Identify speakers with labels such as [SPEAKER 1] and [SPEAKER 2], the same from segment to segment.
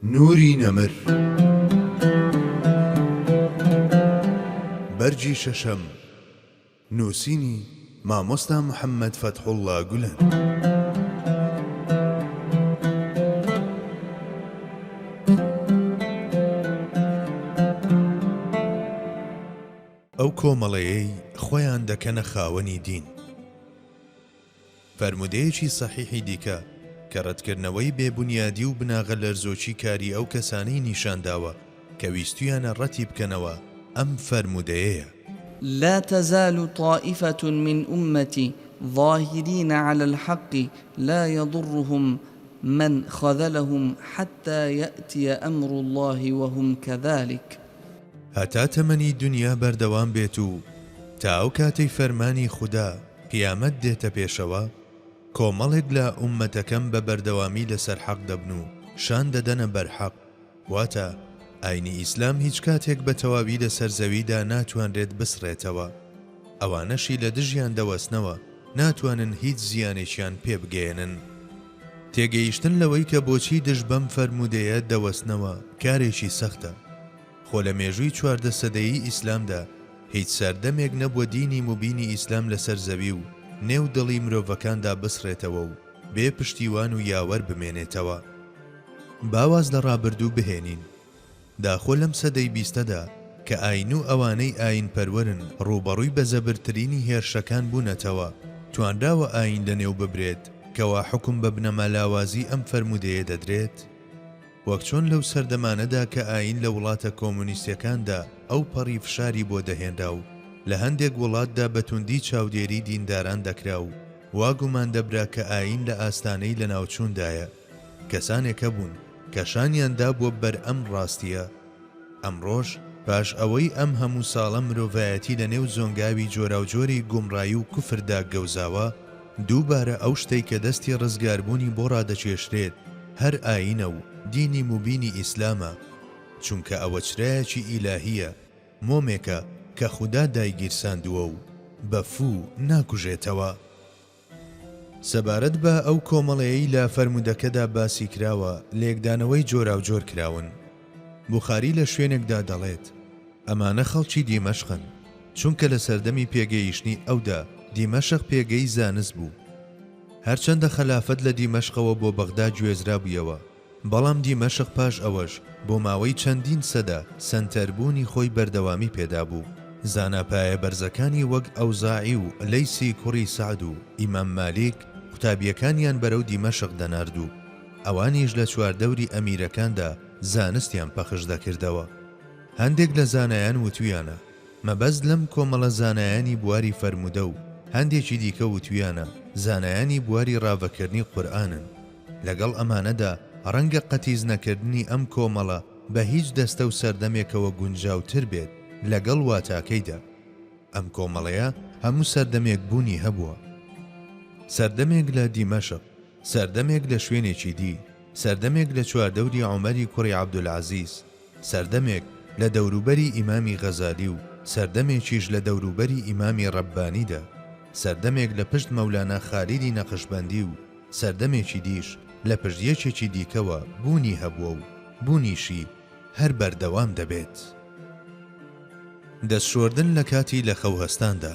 [SPEAKER 1] نوری نەمر بەرگی شەشەم نووسینی، مامۆستا محەمەد فەتحوڵا گولەن. ئەو کۆمەڵەیەی خۆیان دەکەنە خاوەنی دین، فەرموودەیەکی سەحیحی دیکە کە ڕەتکردنەوەی بێ بونیادی و بناغە لەرزۆکی کاری ئەو کەسانەی نیشان داوە کە ویستویانە ڕەتی بکەنەوە ئەم فەرموودەیەیە. لا
[SPEAKER 2] تزال طائفە من امتی ظاهرین علی الحق لا یضرهم من خذلهم حتی یاتی امر الله وهم کذلک. هەتا
[SPEAKER 1] تەمەنی دونیا بەردەوام بێت و تا ئەو کاتەی فەرمانی خودا قیامەت دێتە پێشەوە، کۆمەڵێک لە ئوممەتەکەم بە بەردەوامی لەسەر حەق دەبن و شان دەدەنە بەر حەق، واتە ئاینی ئیسلام هیچ کاتێک بە تەواوی لەسەر زەویدا ناتوانرێت بسڕێتەوە، ئەوانەشی لە دژیان دەوەستنەوە ناتوانن هیچ زیانێکیان پێ بگەیەنن. تێگەیشتن لەوەی کە بۆچی دژ بەم فەرموودەیە دەوەستنەوە کارێکی سەختە. خۆ لە مێژووی چواردە سەدەیی ئیسلامدا هیچ سەردەمێک نەبووە دینی موبینی ئیسلام لەسەر زەوی و نێو دڵی مرۆڤەکاندا بسڕێتەوە و بێ پشتیوان و یاوەر بمێنێتەوە. با واز لە ڕابردوو بهێنین. داخۆ لەم سەدەی بیستەدا کە ئایین و ئەوانەی ئایین پەروەرن ڕووبەڕووی بە زەبرترینی هێرشەکان بوونەتەوە، توانراوە ئایین لەنێو ببرێت، کەوا حوکم بە بنەما لاوازی ئەم فەرموودەیە دەدرێت؟ وەک چۆن لەو سەردەمانەدا کە ئایین لە وڵاتە کۆمۆنیستیەکاندا ئەو پەڕی فشاری بۆ دەهێنرا و لە هەندێک وڵاتدا بە توندی چاودێری دینداران دەکرا و وا گومان دەبرا کە ئایین لە ئاستانەی لەناوچووندایە، کەسانێک هەبوون کە شانیان دابووە بەر ئەم ڕاستیە، ئەمڕۆش پاش ئەوەی ئەم هەموو ساڵە مرۆڤایەتی لە نێو زۆنگاوی جۆراوجۆری گومڕایی و کوفردا گەوزاوە، دووبارە ئەو شتەی کە دەستی ڕزگاربوونی بۆ ڕادەکێشرێت هەر ئایینە و دینی موبینی ئیسلامە، چونکە ئەوە چرایەکی ئیلاهییە، مۆمێکە کە خودا دایگیرساندووە و بە فوو ناکوژێتەوە. سەبارەت بە ئەو کۆمەڵەیەی لە فەرموودەکەدا باسی کراوە، لێکدانەوەی جۆراوجۆر کراون. بوخاری لە شوێنێکدا دەڵێت، ئەمانە خەڵکی دیمەشقن، چونکە لە سەردەمی پێگەیشتنی ئەودا دیمەشق پێگەی زانست بوو. هەرچەندە خەلافەت لە دیمەشقەوە بۆ بەغدا گوێزرابوویەوە، بەڵام دیمەشق پاش ئەوەش بۆ ماوەی چەندین سەدە سەنتەربوونی خۆی بەردەوامی پێدابوو، زانا پایە بەرزەکانی وەک ئەوزاعی و لەیسی کوڕی سەعد و ئیمام مالیک قوتابییەکانیان بەرەو دیمەشق دەنارد و ئەوانیش لە چواردەوری ئەمیرەکاندا زانستیان پەخش دەکردەوە هەندێک لە زانایان وتویانە مەبەست لەم کۆمەڵە زانایانی بواری فەرموودە و هەندێکی دیکە وتویانە زانایانی بواری ڕاڤەکەرنی قورئانن. لەگەڵ ئەمانەدا ڕەنگە قەتیس نەکردنی ئەم کۆمەڵە بە هیچ دەستە و سەردەمێکەوە گونجاو تر بێت لەگەڵ واتاکەیدا. ئەم کۆمەڵەیە هەموو سەردەمێک بوونی هەبووە. سەردەمێک لە دیمەشق، سەردەمێک لە شوێنێکی دی، سەردەمێک لە چواردەوری عومەری کوڕی عەبدولعەزیز، سەردەمێک لە دەوروبەری ئیمامی غەزالی و سەردەمێکیش لە دەوروبەری ئیمامی ڕەببانیدا، سەردەمێک لە پشت مەولانا خالیدی نەقشبەندی و سەردەمێکی دیش لە پشت یەکێکی دیکەوە بوونی هەبووە و بوونیشی هەر بەردەوام دەبێت. دەستشۆردن لە کاتی لەخەوهەستاندا.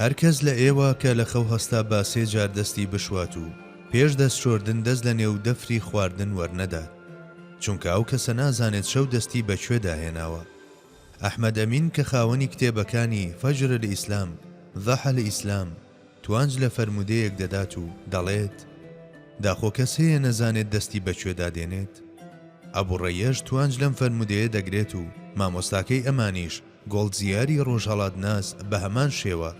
[SPEAKER 2] هەر کەس
[SPEAKER 1] لە ئێوە کە لە خەو هەستا با سێ جار دەستی بشوات و پێش دەست شۆردن دەست لە نێو دەفری خواردن وەرنەدات چونکە ئەو کەسە نازانێت شەو دەستی بە کوێدا هێناوە. ئەحمەد ئەمین کە خاوەنی کتێبەکانی، فجر الاسلام، ضحى الاسلام، توانج لە فەرموودەیەک دەدات و دەڵێت، داخۆ کەس هەیە نەزانێت دەستی بە کوێدا دێنێت؟ ئەبو ڕەیەش توانج لەم فەرموودەیە دەگرێت و مامۆستاکەی ئەمانیش گۆڵدزیاری ڕۆژهەڵاتناس بە هەمان شێوە،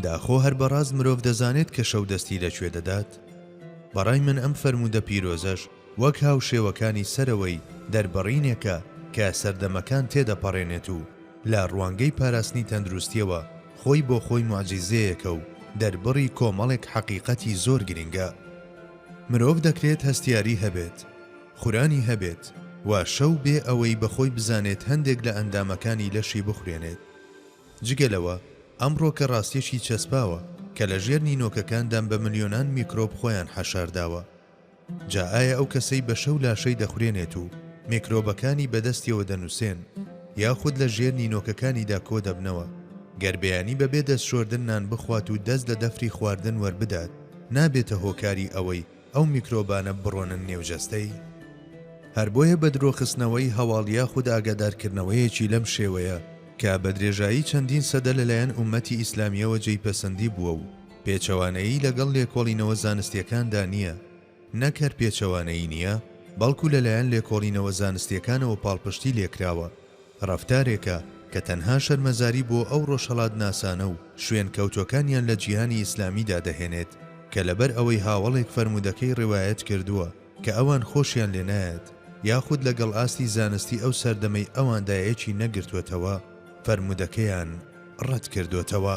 [SPEAKER 1] داخۆ هەر بە ڕاست مرۆڤ دەزانێت کە شەو دەستی لە کوێ دەدات؟ بە ڕای من ئەم فەرموودە پیرۆزەش وەک هاوشێوەکانی سەرەوەی، دەربڕینێکە کە سەردەمەکان تێدەپەڕێنێت و لە ڕوانگەی پاراستنی تەندروستییەوە خۆی بۆ خۆی موعجیزەیەکە و دەربڕی کۆمەڵێک حەقیقەتی زۆر گرینگە. مرۆڤ دەکرێت هەستیاری هەبێت. خورانی هەبێت و شەو بێ ئەوەی بەخۆی بزانێت هەندێک لە ئەندامەکانی لەشی بخورێنێت. جگە لەوە ئەمڕۆکە ڕاستیەکی چەسپاوە کە لە ژێر نینۆکەکاندام بە ملیۆنان میکرۆب خۆیان حەشارداوە. جا ئایا ئەو کەسەی بە شەو لاشەی دەخورێنێت و میکرۆبەکانی بە دەستیەوە دەنووسێن یاخود لە ژێر نینۆکەکانیدا کۆ دەبنەوە، گەر بەیانی بە بێ دەست شۆردن نان بخوات و دەست لە دەفری خواردن وەربدات نابێتە هۆکاری ئەوەی ئەو میکرۆبانە بڕۆنە نێو جەستەی، هەر بۆیە بەدرۆخستنەوەی هەواڵ یاخود ئاگادارکردنەوەیەکی لەم شێوەیە کە بەدرێژایی چەندین سەدە لەلایەن ئوممەتی ئیسلامییەوە جێی پەسەندی بووە و پێچەوانەیی لەگەڵ لێکۆڵینەوە زانستییەکاندا نییە، نەک هەر پێچەوانەیی نییە، بەڵکو لەلایەن لێکۆڵینەوە زانستییەکانەوە پاڵپشتی لێکراوە. ڕەفتارێکە کە تەنها شەرمەزاری بۆ ئەو ڕۆژهەڵاتناسانە و شوێنکەوتوەکانیان لە جیهانی ئیسلامیدا دەهێنێت کە لەبەر ئەوەی هاوەڵێک فەرموودەکەی ڕەوایەت کردووە کە ئەوان خۆشیان لێ نایەت یاخود لەگەڵ ئاستی زانستی ئەو سەردەمەی ئەواندا یەکی نەگرتووەتەوە فەرموودەکەیان ڕەت کردۆتەوە.